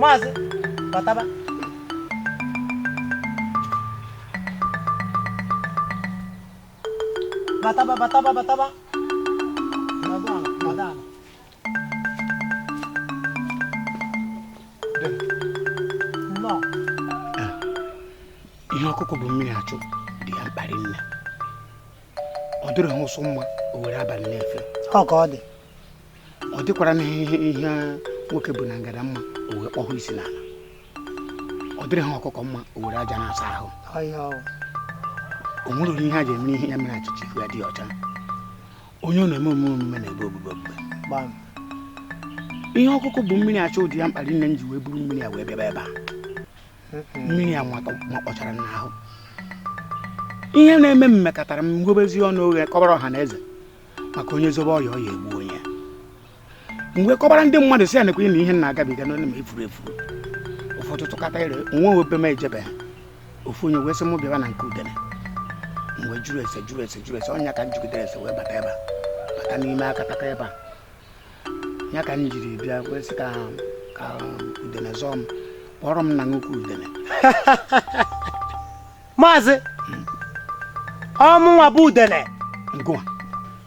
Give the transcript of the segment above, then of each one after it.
maazị bataba bataba bataba bataba nọdụ ala nọdụ ala nnọọ ihe ọkụkọ bu mmiri achụ dị ya mkpa rinne ọ dịrị ha ụsụ mma o were abalị na-efe ọ ka ọ dị ọ dịkwara na ihe ihe nwoke bu na ngada mma o wee kpọhụ isi n'ala ọ dịrị ha ọkụkọ mma o were aja na-asa ahụ ọya o o nwere ụdị ihe a ji eme ihe ya mere achịcha ihu ya dị ọcha onye ọ na-eme omume omume na-ebe obube obube gbam ihe ọkụkọ bu mmiri achụ dị ya mkpa rinne m ji wee buru mmiri a wee bịaba ebe a mmiri a makpọchara m n'ahụ ihe na-eme m mekatara m m ghebezi ọnụ oghe kọbara ọha na eze maka onye zobe ọya ọya egbuo nya m wee kọbara ndị mmadụ si ya na ekwenye na ihe na-agabiga n'onye ma efuru efuru ụfọdụ tụkata ire nwa obe m ejebe ha ofu onye wee sị m bịaba na nke udene m wee jụrụ ese jụrụ ese jụrụ ese ọ nya ka m jụgidere ese wee bata ebe a bata n'ime akataka ebe a ya ka m jiri bịa wee sị ka ka udene zọọ m kpọrọ m na nnukwu udene maazị ọ mụnwa bụ udene Ngụwa.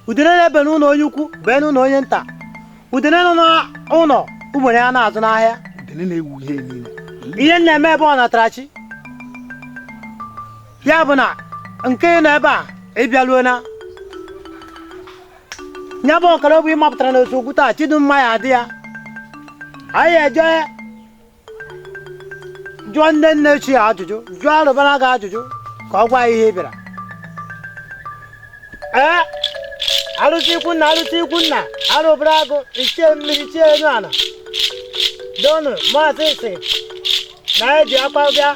udene na-ebe n'ụlọ onye ukwu bee n'ụlọ onye nta udene nọ n'ụlọ ugbene ya na-azụ n'ahịa Udene na-ewu ihe niile. ihe m na-eme ebe ọ natara chi ya bụ na nke ị nọ ebe a ị bịaruona ya bụ ọkara bụ ị mapụtara na nsogbu taa chi dị mma ya adị ya anyị eje jụọ ndị nne ochie ajụjụ jụọ arụbara agụ ajụjụ ka ọ gwa anyị ihe ị bịara ee arụsị ikwu nna arụsị ikwu nna arụbara agụ ichie mmiri ichie enu ala donu maazị sị na ya ji akpa bịa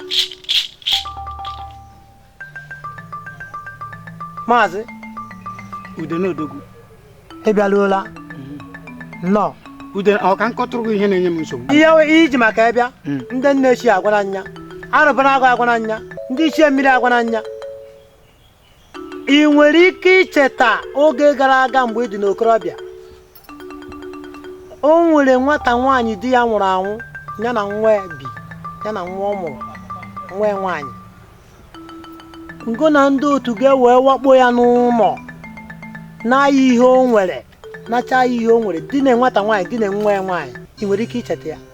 maazị udene odogwu ị bịaruola nnọọ ude ọ ka m kọtụrụ gị ihe na-enye m nsogbu ihe we- ihe i ji maka ya bịa Mm. ndị nne ochie agwana m ya arụbara agụ agwana m ya ndị ichie mmiri agwana m ya ị nwere ike icheta oge gara aga mgbe ị dị n'okorobịa o nwere nwata nwaanyị di ya nwụrụ anwụ ya na nwa ya bi ya na nwa ọ mụrụ nwa ya nwaanyị ngị na ndị otu gị wee wakpo ya n'ụlọ naa ya ihe o nwere nachaa ya ihe o nwere dinaa nwata nwaanyị dinaa nwa ya nwaanyị ị nwere ike icheta ya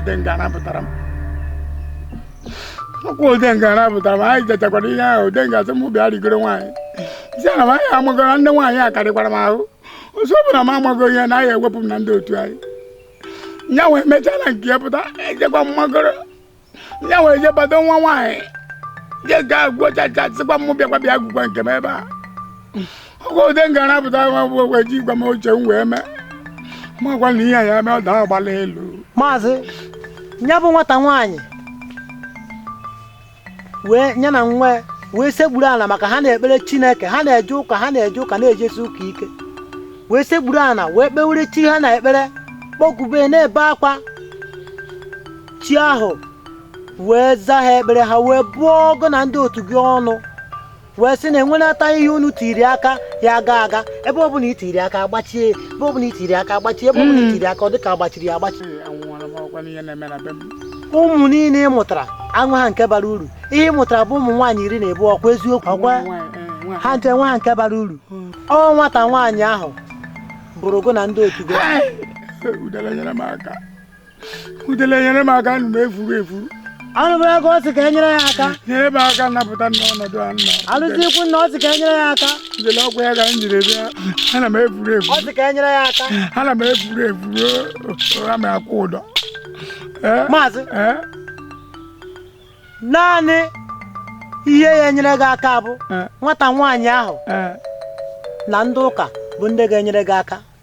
udenga napụtara m ọkwa udenga napụtara m anyị jechakwara ihe ahụ udenga sị m bịa rigoro nwaanyị si ana m anyị amụgara ndị nwaanyị akarịkwara m ahụ ọzọ bụ na m amagoro ya na ya ewepụ m na ndị otu anyị ya wee mechaa na nke ya pụta ejekwa m magoro ya wee je bado nwa nwaanyị je gaa gwochacha sịkwa m bịakwa bịa agụkwa nke m ebe a ọkwa udenga napụtara m bụ o ji gwa m oche m wee mee makwa na ihe ya mee ọ daa agbala elu maazị ya bụ nwata nwaanyị wee nya na nwa ya wee sekpuru ana maka ha na-ekpere chineke ha na-eje ụka ha na-eje ụka na-ejesi ụka ike wee sekpuru ana wee kpewere chi ha na ekpere kpọkube na-ebe akwa chi ahụ wee zaa ha ekpere ha wee bụọ gụ na ndị otu gị ọnụ wee sị na enwenata ihe unu tiri aka ya aga aga ebe ọ bụla itiri aka agbachie ebe ọ bụla itiri aka agbachie ebe ọ bụla itiri aka ọ dịka agbachiri ya agbachi ụmụ niile ị mụtara enweha nke bara uru ihe ị mụtara bụ ụmụ nwaanyị iri na abụọ ọkwa eziokwu ọkwa ha ncha enweha nke bara uru ọ nwata nwaanyị ahụ bụrụ gụ na ndị otu gị udele nyere m aka ana m efuru efuru anụbụ ya ka ọ sị ka enyere ya aka nyere m aka napụta n'ọnọdụ a nọ anụzikwa na ọ sị ka enyere ya aka udele ọkwa ya ka m jiri bịa ana m efuru ọ efuru sị ka enyere ya aka ana m efuru efuru aga m akwụ ụdọ Ee, maazị ee, naanị ihe ga-enyere gị aka bụ ee, nwata nwaanyị ahụ ee. na ndị ụka bụ ndị ga-enyere gị aka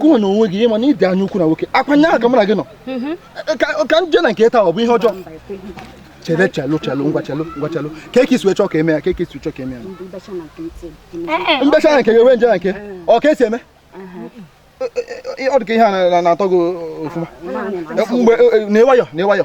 gụwa na onwe gị ịma na ịdị anya ukwu na nwoke ọkwa nya ka mụ na gị nọ mhm. ka m je na nke taa ọ bụ ihe ọjọọ chele chelu chelu ngwa chelu ngwa chelu ọ ka i si wee chọọ ka eme ya ọ ka i si chọọ ka eme ya mbecha na nke gị wee nje na nke ọ ka esi eme ọ dị ka ihe a na-atọ gị ofụma mgbe nwayọ nwayọ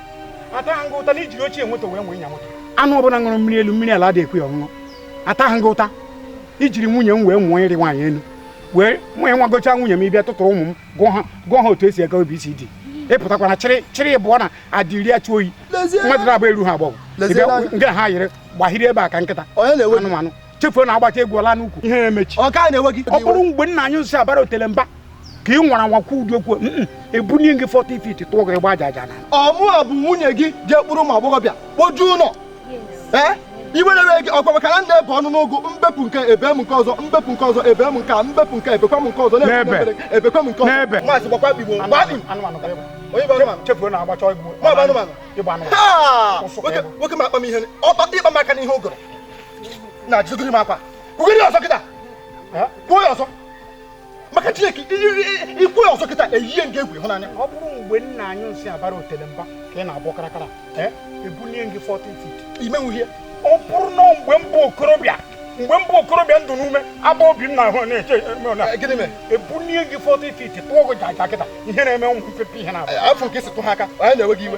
ataghị gị ụta na ijiri ochie moto wee mụọ ịnya moto anụ ọbụla ṅụrụ mmiri elu mmiri ala adị ekwe ya ọṅụṅụ ataghị gị ụta ijiri nwunye m wee mụọ ịrị nwaanyị elu wee mụ ya ịmagocha nwunye m ịbịa tụtụrụ ụmụ m gụọ ha gụọ ha otu esi agụ ABCD ịpụtakwana chịrị chịrị ịbụọ na adịri achụ oyi mmadụ na-agba eruha agbọghọ Leziere anya. nke ha yiri gbahiri ebe a ka nkịta Onye na-ewe gị? anụmanụ chefuo na agbacha egwu ọ laa n'ukwu ihe emechi ọ ka na-ewe gị ọ bụrụ mgbe nna anyị nsị abara otele mba ka ị nwara anwa kwuo ụdị okwu ebunie gị 40 feet tụọ gị gbajaja na ọ mụa bụ nwunye gị jee kpọrọ ụmụ agbọghọbịa kpojuo ụlọ ee iwe na-ewe gị ọkwa maka na m na-ebe unu ugwu m bepụ nke a ebe m nke ọzọ m bepụ nke ọzọ ebe m nke a m bepụ nke a ebekwa m nke ọzọ na-ebe ebekwa m nke ọzọ n'ebe maazị gbakwa bigbo gbadị onye bụ anụmanụ chefuo na agbacha egwu nwoke m akpa m ihe ọkpa ị kpa m aka n'ihe ụgụrụ na jidogiri m akwa kwugiri ọzọ kịta kwuo ya ọzọ maka chineke i kwuo ya ọzọ kịta eyie m gị egwu ịhụnanya ọ bụrụ mgbe nna anyị nsị abara otele mba ka ị na-agbọ karakara ebulie gị 40 feet ị menwu ihe ọ bụrụ na mgbe m bụ okorobịa mgbe m bụ okorobịa ndụ n'ume agba obi m na-ahụ na-eche ebulie gị 40 feet tụọ gị jaja kịta ihe na-eme ụmụ mpepe ihe na-abụ afọ nke si tụ ha aka anyị na-ewe gị iwe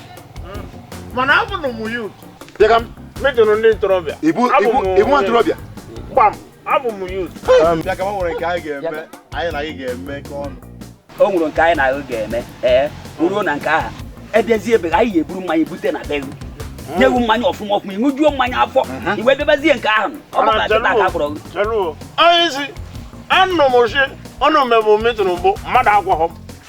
mana abụ na ụmụ yut Dịka m, metụrụ ndị ntorobịa ibu Abụ ibu m- ị bụ nwa ntorobịa. gbam abụ m yut Bịa ka m nwere nke anyị ga-eme, anyị na gị ga-emekọ ọnụ. o nwere nke anyị na ha ga-eme ee ruo na nke ahụ edezie ebe anyị ga-eburu mmanya bute na be gị nye gị mmanya ọfụma ọfụma ị ṅụjuo mmanya afọ i wee debezie nke ahụ ọ bụla nkịta aka kpọrọ gị cheluo onye isi anụ m oshi ọnụ mebụ metụrụ mbụ mmadụ agwaghọ m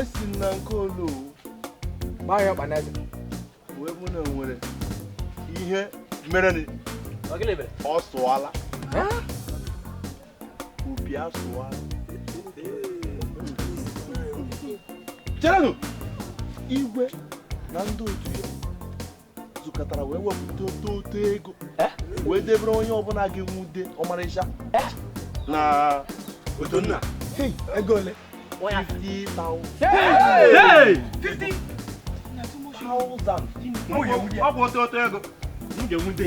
a sị na nke olu gbaa ya ọkpa n'eze wee mụ na nwere ihe merenị ọ sụọla obi asụọla cherenụ igwe na ndị otu ya zukọtara wee wepụta ọtụtụ ego eh? wee debere onye ọbụla ga-enwude ọmarịcha eh? na Udonna ego ole 50,000 ọ bụ ọtụtụ ego m ga-enwude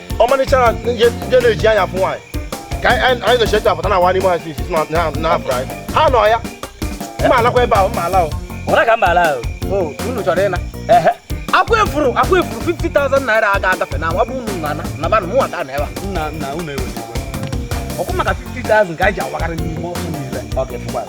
ọmarịcha ndị na-eji anya fụ nwaanyị ka anyị na-eche etu apụta na awa n'ime ọhịa isi na afọ anyị ha nọ ya m ma alakwa ebe ahụ m ma ala ọra ka m ma ala unu chọrọ ịna akwa efuru akwa efuru 50,000 naira aga agafe na nwa bụ unu na nabanụ mụnwa ka nọ ebe a ọkwa maka 50,000 ka anyị ji awagarị n'ime ọhịa niile ọ ga-efukwa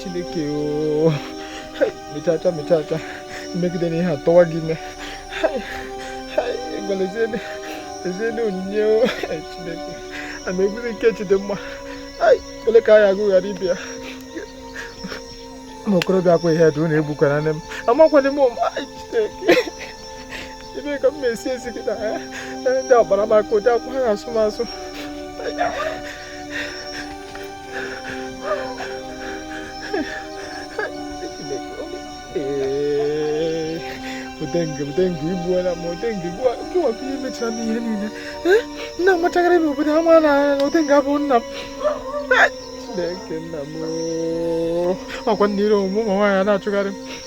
chineke o mechacha mechacha mmegide na ihe atọwa gị ime gwara eziene onyinye o chineke ana ebuzi nke Chidimma ole ka a ya-agụ ghara ibe ya ụmụ okorobịa ọkwa ihe dị unu egbukwana nne m amakwana m chineke ebe ka m na-esi esi gị na eh, eh, ndị agbara m aka ụdị akwụkwọ ha asụ m asụ odenge odenge igbuola m odenge gịwa ka ihe mechara m ihe niile eh, nna m machagharị n'obodo ama na odenge abụ nna m chineke nna m ọkwa nna ire omume ụmụ nwaanyị na-achụgharị m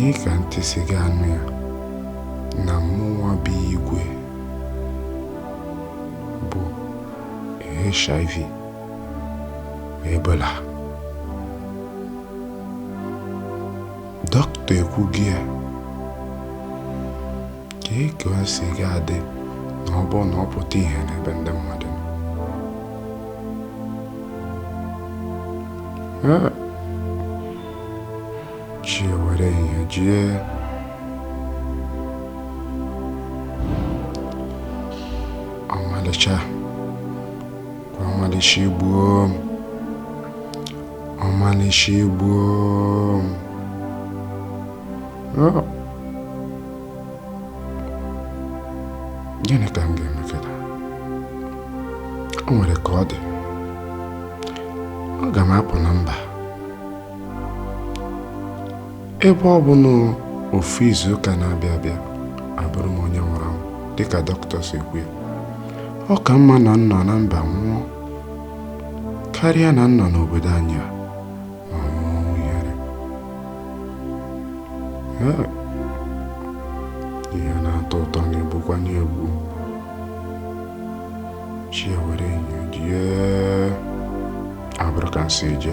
kee ka ntị si ga-anụ ya na mụnwa bụ igwe bu HIV Ebola Dọkịta ekwugo ya. Kee ka o si ga-adị na ọ bụrụ na ọ pụta ihe n'ebe ndị mmadụ nọ? Ah! Chi ewere ehihie jie. Ọmalịcha. ọmalịcha igbuo m ọmalịcha igbuo m Oh. gịnị ka m ga-eme kịta o nwere ka ọ dị aga m apụ na mba Ebe ọ bụ na ofu izu ụka na-abịa abịa abụrụ m onye nwụrụ anwụ dịka dọkịta si kwu ya ọ ka mma na m nọ na mba nwụọ karịa na m nọ n'obodo anyị a ma nwụọ ihere ihe na-atọ ụtọ na-egbukwanụ egbu chi ewere enyo jie abụrọ ka o si eji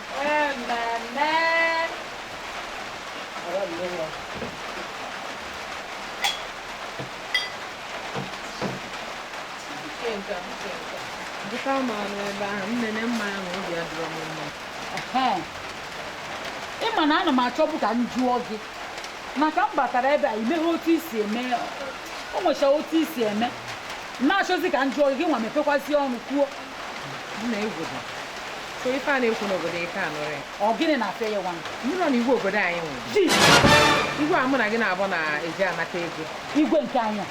Dịka m nọ ebe ahụ, m nene m anya obi adịrọ m mma. ị ma na ana m achọbụ ka m jụọ gị maka m batara ebe a i meghe otu i si eme o nwecha otu i si eme m na-achọzi ka m jụọ gị gịnwa mepekwazi ọnụ kwuo nna igwe bụ sọ ife a na-ekwu n'obodo ị ka anụrọ ọ gịnị na-afịa ya nwa m nụrụ na igwe obodo anyị nwere ji igwe a mụ na gị nabọ na-eji anata ego igwe nke anyị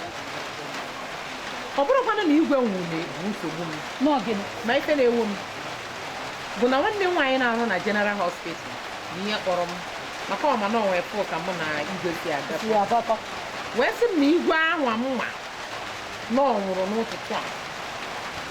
ọ bụrọkwanụ na igwe nwụrụ bụ nsogbu m n'ọgịnị ma ife na-ewu m bụ na nwanne m nwaanyị na-arụ na General Hospital bụ ya kpọrọ m maka ọ ma na o nwefụ ka mụ na igwe si agakọ wee sị m na igwe ahụ amụma na ọ nwụrụ n'ụtụtụ a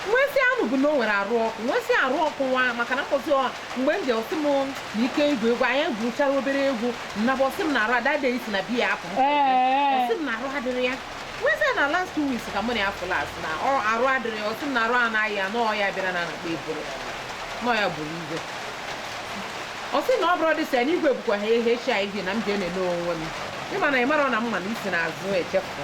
nwesị anụ bụ na o nwere arụ ọkụ nwesị arụ ọkụ nwa maka na mkpọzi ọ mgbe m ji ọ sị m na ike igwu egwu anyị gwuchara obere egwu m naba ọ sị m na arụ adade isi na biya apụ ọ sị m na arụ adịrị ya nwesị na last two weeks ka mụ na ya fụ last na ọ arụ adịrị ya ọ sị m na arụ a na-ayị ya na ọya bịara na na-akpọ ebola na ọ ya gburu igwe ọ sị na ọ bụrụ dị sị na igwe bụkwa ha ehe chi anyị na m ji enene onwe m ịma na ị mara na mma na isi na azụ echefu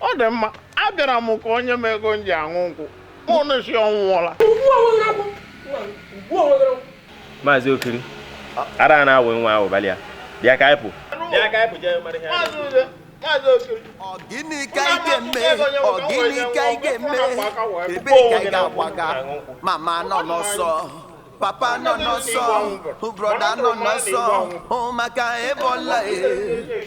Ọ dị mma, abịara m ka o nye m ego m ji aṅụ nkwụ. Unu na-asị ọ nwụọla. Maazị Okiri, ara a na-awị nwa ahụ balị ya. Bịa ka anyị pụ. Bịa ka anyị pụ jee mara ihe anyị Maazị Ude, Maazị Okiri. Ọ gịnị ka ị ga-eme? Ọ gịnị ka ị ga-eme? Ebe ka ị ga-agbaga? Mama nọ n'ọsọ. Papa nọ n'ọsọ. Brọda nọ n'ọsọ. Maka ebola e.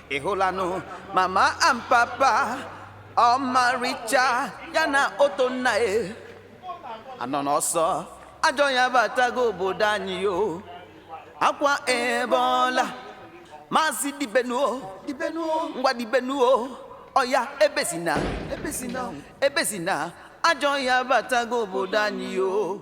ị hụlanụ mama and papa ọmarịcha ya na oto nna e anọ n'ọsọ ajọ ọya batago obodo anyị o akwa ebola maazị dibenụ o dibenụ o ngwa dibenụ o ọya ebezina ebezina ebezina ajọ ọya batago obodo anyị o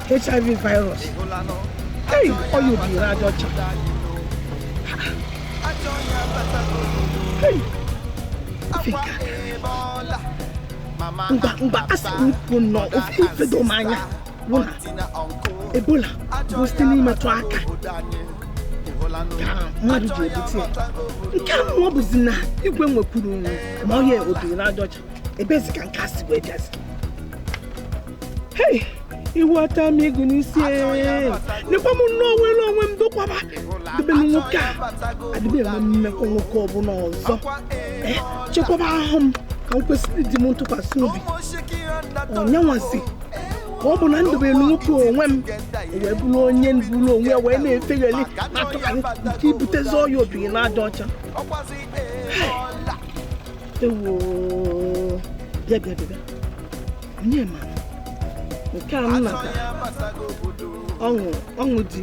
hiv virus ei ọya obiri n'aja ọcha Ei, ofe nke aka. ngwa ngwa a sị m kwuo nnọọ ofe ife do m anya bụ na ebola bụ site n'imetụ aka ka mmadụ ji ebute ya nke a mụọ bụzi na igwe nwekwuru ma ọya obiri n'aja ọcha ebezi ka nke a si wee bịazi hei iwu ata m ego n'isi nekwa m nnọọ nwere onwe m dokwaba debe m nwoke a adị m enwe mmekọ nwoke ọbụla ọzọ Eh, chekwaba ahụ m ka m kwesịrị di m ntụkwasị obi ọ ya nwazị ka ọ bụ na m debelu nwoke onwe m wee bụrụ onye buru onwe ya wee na-efeghalị na-atụgharị nke ibutezi ọya obiri n'aja ọcha ewoo bịa bịa bịa onye ma nke a m nata ọṅụ ọṅụ di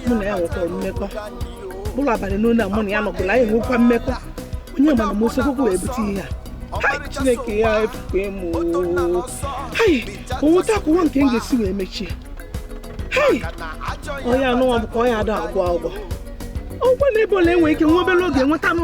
mụ na ya nwekọrọ mmekọ bụrụ abalị n'olu a mụ na ya nọkwụrụ anyị nwekwa mmekọ onye ma na m esogokwu wee bute ihe a chineke e efuo m hai onweta akwụkwọ nke m ga-esi wee mechie hai onye anụnwa bụ ka ọya ada agwọ agwọ ọ kwa na ebola e nwere ike nwa obere oge nwetanụ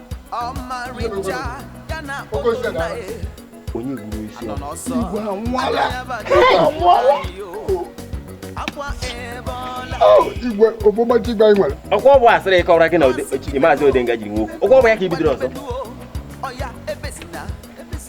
onye gburu isi igwe obomachi gba nwere ọ kwa ọ bụ asịrị ị kọwara gị na maazị odenga ji nwe okwu ọ kwa ọ bụ ya ka i bidoro ọzọ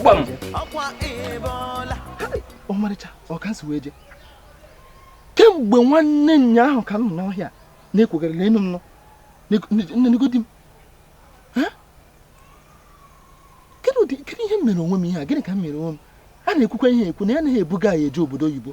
gbam ọmarịcha ọ ka m si wee je kemgbe nwanne nyaahụ ka m nọ n'ọhịa na-ekwegara n'enu m nọ nenegodi m kedu ihe m mere onwe m ihe a gịnị ka m mere onwe m a na-ekwukwa ihe ekwu na ya anaghị ebuga ya eje obodo oyibo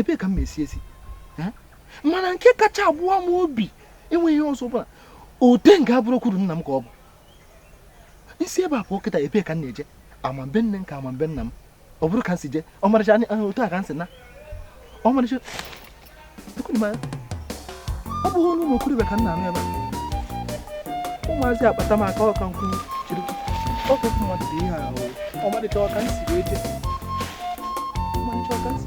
ebee ka m na-esi esi mana nke kacha agbawa m obi enweghị ihe ọzọ bụla ode nga abụrụ kwuru nna m ka ọ bụ m si ebe a pụọ kịta ebee ka m na-eje ama m be nne m ka ama m be nna m ọ bụrụ ka m si jee ọmarịcha otu a ka m si na ọmarịcha ọ bụghị onu ụmụ okorobịa ka m na-anụ ebe a ụmụazị akpata m aka ọka nkwụ jiri ọkụ mmadụ dị ihe ahụ ọmalịcha ọ ka m si wee je ọmalịcha ọ ka m si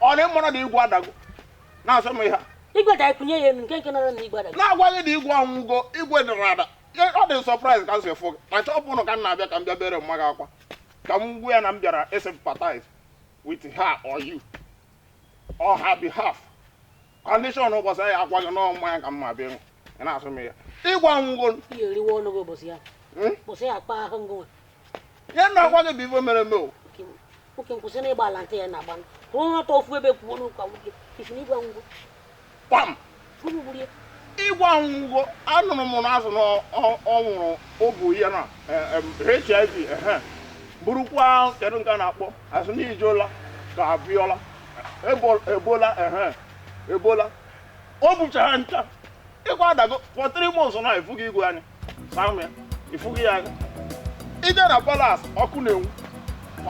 ọ na ị mara na igwe adago na-asụ m ihe a igwe da e kunye ya enu nke nke nọrọ na igwe adago na-agwa gị na igwe anwụgo igwe dara ada Ya- ọ dị m surprise ka m si fụ gị na shop unu ka m na-abịa ka m bịa bere mma gị akwa ka m gwa ya na m bịara ị sympathize with her or you on her behalf condition ụbọchị ahụ akwa gị n'ọnwụ mmanya ka m ma-abịa ịṅụ ị na-asụ m ya igwe anwụgo ihe eriwe ọnụ gị ụbọchị ya hmm? ụbọchị ya akpa ahụ ngụ ya na-agwa gị bụ ife mere eme o nwoke m kwụsị na ịgba ala ntị ya na-agba kwụrụ ọtọ ofu ebe kwuonụ ka nwoke ị sị na igwe anwụgo kpam igwe anwụgo anụrụ m na azụ na ọ nwụrụ obu ya na hiv burukwa kedu nke a na-akpọ a sụ na ijeola ka abịọla ebola ebola o bucha ha ncha igwe adago for three months na ifughị igwe anyị samia ifughị ya anya i je na palace ọkụ na-enwu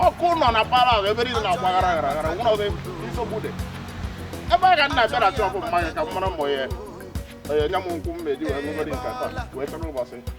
ọkụ nọ na palace ebe niile na-agba gara gara gara nwụrụ ọzọ nsogbu dị ebe a ka m na-abịa na shop mmanya ka m mara mbọ ya onye nye m nkwụ m na-eji wee ṅụgoro nke taa wee chọrọ ụbọchị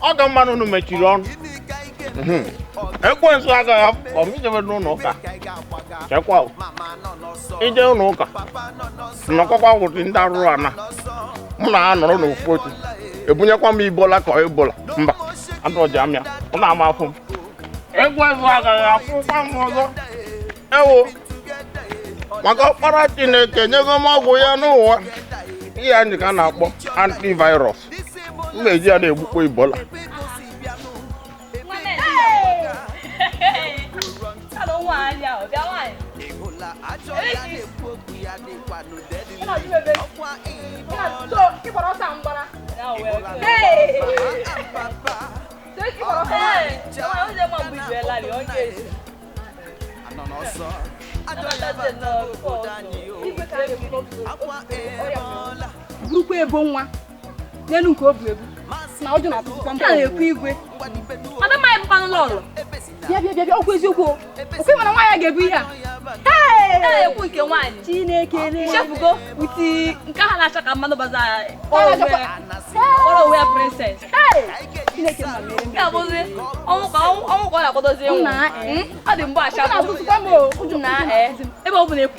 ọ ka mma unu mechiri ọnụ mhm. ekwensu agaghị afụ m ijebe n'ụlọ ụka chekwa ije ụlọ ụka nọkọkwa ụdị ndị arụrụ ana mụ na ha anọrọ n'ofu otu ebunyekwa m ibola ka ọ ebola mbanụ ọja amịa m na-ama afọ m ekwensu agaghị afụkwa m ọzọ ewo maka ọkpara chineke nyego m ọgwụ ya n'ụwa ihe anyị ka a na-akpọ antivirus m na-eji ya na-egbukpo ebola Hey! burukwa ebola n'elu nke o bu ebu na ụjọ na-atụtụkwa m na-ekwu igwe adamaghị bụkwanụ lọlọ bịa bịa bịa okwu eziokwu okwu mana nwaanyị a ga-ebu ihe a ekwu nke nwaanyị chineke chefugo uti nke a na-acha ka mmanụ baza kpọrọ onwe ya princess chineke ma mere m ya bụzi ọnwụ ka ọnwụ ka ọ na-akwadozi ịnwụ ọ dị mgbe acha na-atụtụkwa m o ụjọ na ebe ọ bụla ekwu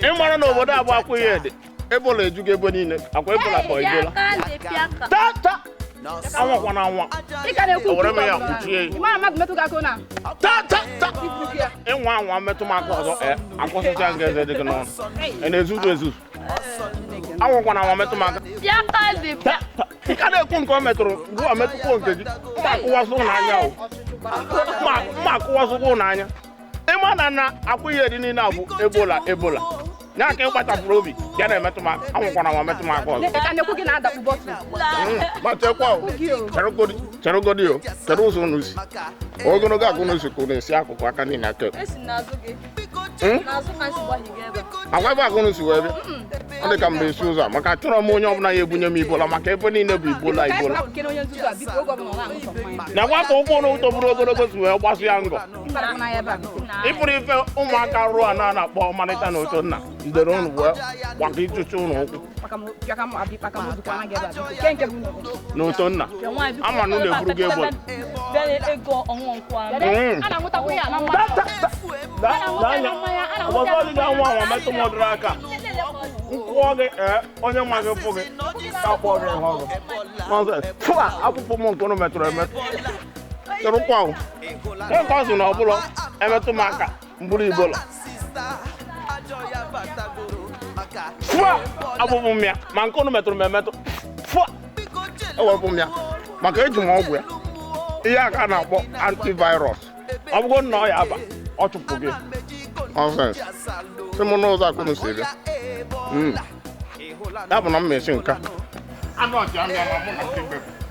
ị mara na obodo a bụ akwaihedi ebola ejugo ebe niile ọkwa ebola ka ebola tata anwakwana anwa ewere m ya kwuchie tata ị nwaa anwa metụ m aka ọzọ akụsịcha m gị eze dị gị n'ọnụ na-ezuzu ezuzu anwakwana anwa metụ m aka nka na-ekwu nke ọ metụrụ gụwa metụkwuo nke gị mma akụwasụ n'anya o mma akụwasụkwụ n'anya ị ma na na akwaihedi niile a bụ ebola ebola ya ka ị kpachapụrụ obi ya na-emetụ m aka anwakwana anwa metụ m aka ọzọ matekwa cherụgodi o chere ụzọ unu si ogologo ka unu si ka unu esi akụkụ aka niile aka Hmm? agwa ebe ka unu si wee bịa ọ dị ka m ga-esi ụzọ a maka achọrọ m onye ọbụla ya ebunye m ebola maka ebe niile bụ ebola ebola na nwata ụkwụ na ụtọ bụrụ ogologo si wee gbasụ ya ngọ ị fụrụ ife ụmụaka rụọ a na-akpọ ọmalịcha na ụtọnna ndere ụnụ wee gbata ịchụcha ụlọ ụkwụ na ụtọnna ama na ụnụ eburugo ebola mgbe ọzọ ị ga-anwa anwa metụ m ọdụrụ aka m kụọ gị ee onye nwe gị fụ gị ka kpọọ gị ihe ọzọ nonsense pụa n'akụkụ m nke ụnụ metụrụ emetụ tụrụ kwa ahụ nke ọ sị na ọ bụla emetụ m aka m buru ebola fụa abụbụ m ya ma nke unu metụrụ m emetụ fụa ewepụ m ya maka eji m ọgwụ ya ihe a ka a na-akpọ antivirus ọ bụgo nna ọ ya aba ọ chụpụ gị nonsense si m n'ụzọ akụ m si bịa Mm. ya bụ na m mesi nka anụ ọchị amịa ma mụ na nke bepụ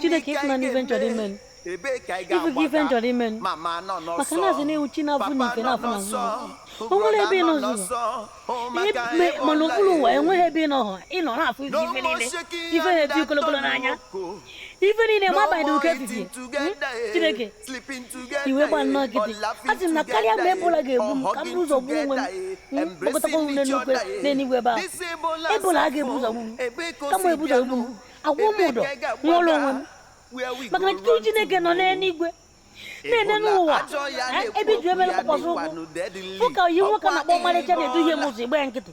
chineke ịfụna n'ife nchọrọ ime ife gị ife nchọrọ ime maka na asị na ị wu chi na-afụ n'ife na-afụ na nzuzo o nwere ebe ị nọ nzuzo mana okpuru ụwa enweghị ebe ị nọ ha ị nọ na-afụ ife ife niile ife na-eti kolokolo n'anya ife niile ma abalị ụka efifie chineke ị wee gba nnọọ nkịtị asị m na karịa mgbe ebola ga-egbu m ka m buru ụzọ gbuo onwe m hmm? kpọkọtakwa m n'eluigwe n'eluigwe ebe ahụ ebola a ga-ebu ụzọ gbu m kama ebu ụzọ gbu m akwụọ m ụdọ nwụọrọ onwe m maka na tutu Chineke nọ n'eluigwe na-ene n'ụwa eh, ebe iju emere mkpọkpọsọ ụkwụ ụka yi nwoke na-akpọ ọmarịcha na-eduhie m ụzọ ị gba nkịtị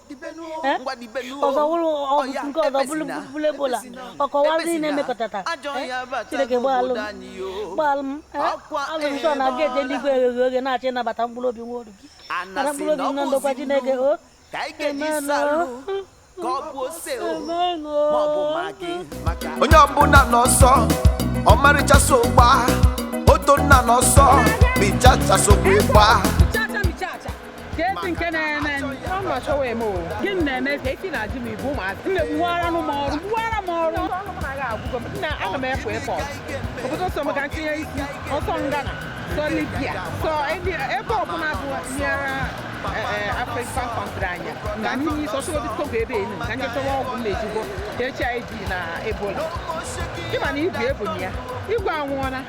ọzọ wụrụ ọgwụ nke ọzọ bụrụ bụrụ ebola ọkọwa ndị na-emekọtata chineke gbaalụ m gbaalụ m azụ m sọ na gate eluigwe eghe oghe na-achọ ịnabata mkpụrụ obi nwa oru gị nara mkpụrụ obi na ndokwa chineke o onye ọbụla n'ọsọ ọmarịcha so gba oto nna n'ọsọ bichacha sokwa ịgba ka esi nke na-eme mma chọwa eme ọ gịnị na-eme ka esi na-ajụ m ibu ụmụazị nne gbuwara m ọrụ gbuwara m ọrụ ọrụ m na-aga agwụgo m nna aga m efu airport obodo sọ m ka m tinye isi ọ sọ ghana sọ libya sọ ebe ọbụla bụ nyere african country anya na n'ime isi ọsọ ọ bụ togo ebe enu ka ndị chọwa ọgwụ m na-eji egbu hiv na ebola ịma na ibu ebonyi ya igwe anwụọla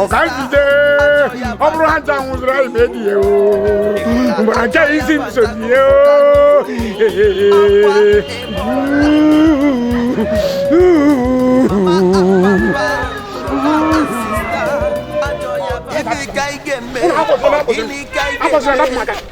ọka njide ọ bụrụ ha ncha nwụziri anyị ma ediye mgbe ha ncha isi nsonye Gịnị ka ị ga-eme? Gịnị ka ị ga-eme?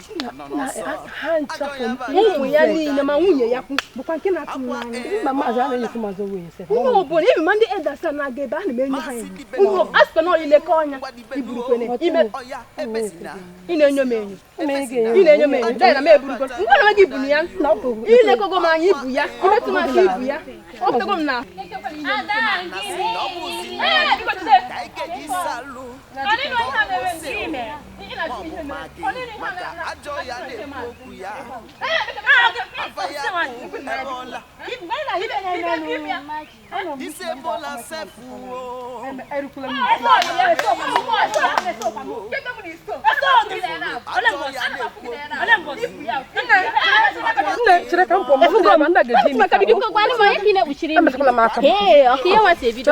ha nchapụ ụmụ ya niile ma nwunye ya kwu bụkwa nke na-atụ m n'anya mba maazị anaghị ekwu mazụ nwunye se ihe ọbụla ebe ma ndị edasa na-aga ebe a na m enye ha enyo a sịkwa na ọlile ka ọnya iburukwene ime ị na-enyo m enyo ị na-enyo m enyo dara m eburugo ngwa na gị bunu ya ilekogo m anya ibu ya imetụ m aka ibu ya ọ pụtago m na Ee, ọkụ ihe nwata ebido.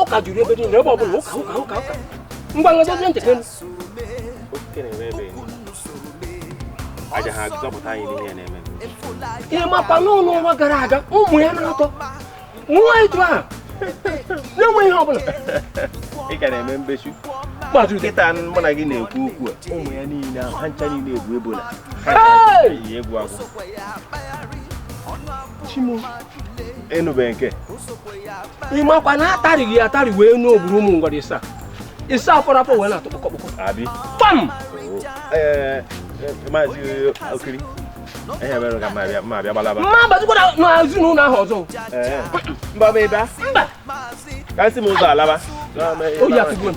ụka juru ebe niile ebe ọ bụla ụka ụka ụka ụka ngwa ngwa dozie ntị gịnị aja ha zọpụta anyị n'ihe na-eme ị makwa n'ọnwa gara aga ụmụ ya na-atọ nwa etu a na-enwe ihe ọbụla ị ka na-eme mbechu nkịta mụ na gị na-ekwu okwu a ụmụ ya niile ahụ ha ncha niile egwu ebola ha ka egwu agwụ ịnụbeghị nke ị makwa na atarịghị ya atarị wee nụ ogburu ụmụ ngwara ịsa ịsa afọ afọ wee na-atụ kpọkọkpọkọ abi pam ee maazị okiri ihe mere ka mma abịa mma abịa gbalaba m ma abazikwara na ezinụlọ ahụ ọzọ ee mba bụ ebe a mba ka nsi m ụzọ alaba oyi atụgbu m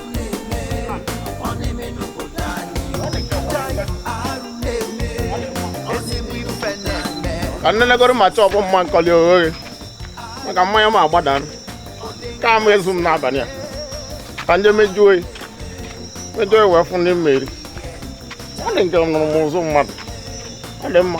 ka nnenegoro ma chọọ bụ mma nkọli oghe maka mmanya m agbada ka m ezu m n'abalị a ka nje mejuo oyi mejuo oyi wee fụ ndị mmeri ọ dị m ka anụrụ m ụzụ mmadụ ọ dị mma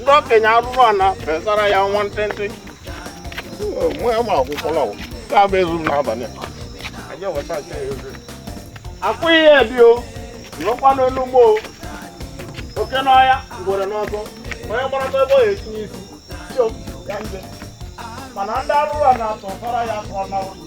ndị okenye arụrụ ana fesara ya nwa ntịntị nwa ya ma akwụkwọla wụ nke a bụ ezu m n'abalị a. Anyị eweta nke ya ezu. akwụ ihe dị o nọkwa n'elu ugbo o. oke n'ọhịa ngwere n'ụzọ onye gbarata ebe ọ ga-etinye isi Yo, ya nje. mana ndị arụrụ ana tụsara ya tụọ na ụlọ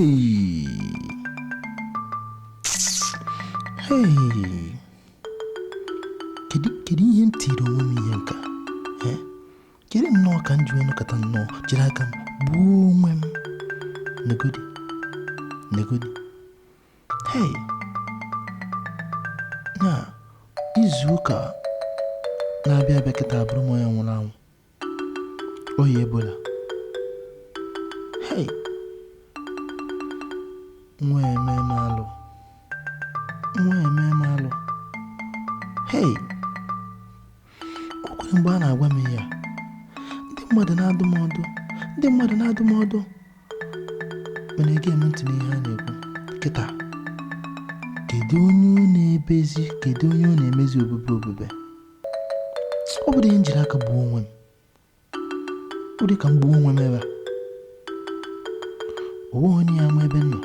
Hey. Hey. Kedu kedu ihe m tiri onwe m ihe nka? Eh? Kedu nnọọ ka m ji wee nọkọta nnọọ jiri aka m gbuo onwe m? Negodi. Negodi. Hey. Na izu ụka na-abịa abịa kịta abụrụ m onye nwụrụ anwụ. Ọya ebola. Hey! Nwa eme m alụ. Nwa eme m alụ. Hey! O kwere mgbe a na-agwa m ihe a. Ndị mmadụ na-adụ m ọdụ. Ndị mmadụ na-adụ m ọdụ. Mana ege m ntị n'ihe a na-ekwu. Kịta. Kedu onye ọ na-ebezi? Kedu onye ọ na-emezi obube obube? ọ bụrụ ihe njiri aka gbuo onwe m ọ dị ka m gbuo onwe m ebe a o nweghị onye ya ama ebe m nọ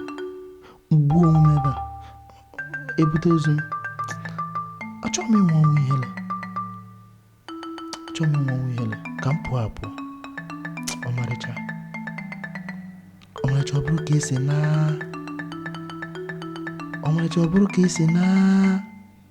gbuo onwe m ebe a ebute ozu m achọghị m ịnwụ ọnwụ ihere achọghị m ịnwụ ọnwụ ihere ka m pụọ apụọ ọmarịcha ọmarịcha ọ bụrụ ka esi na ọmarịcha ọ bụrụ ka esi na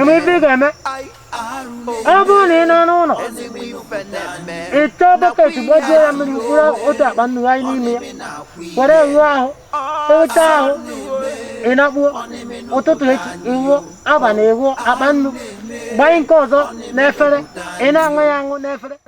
ebe ife ị ga-eme ọ bụrụ na ị nọ n'ụlọ ị chọọ bọket gbajue ya mmiri mkpụrụ otu akpa nnu gbanye n'ime ya were wụọ ahụ ị wụcha ahụ ị nakpuo ụtụtụ echi ị wụọ abalị ị wụọ akpa nnu gbanye nke ọzọ n'efere ị na-aṅụ ya aṅụ n'efere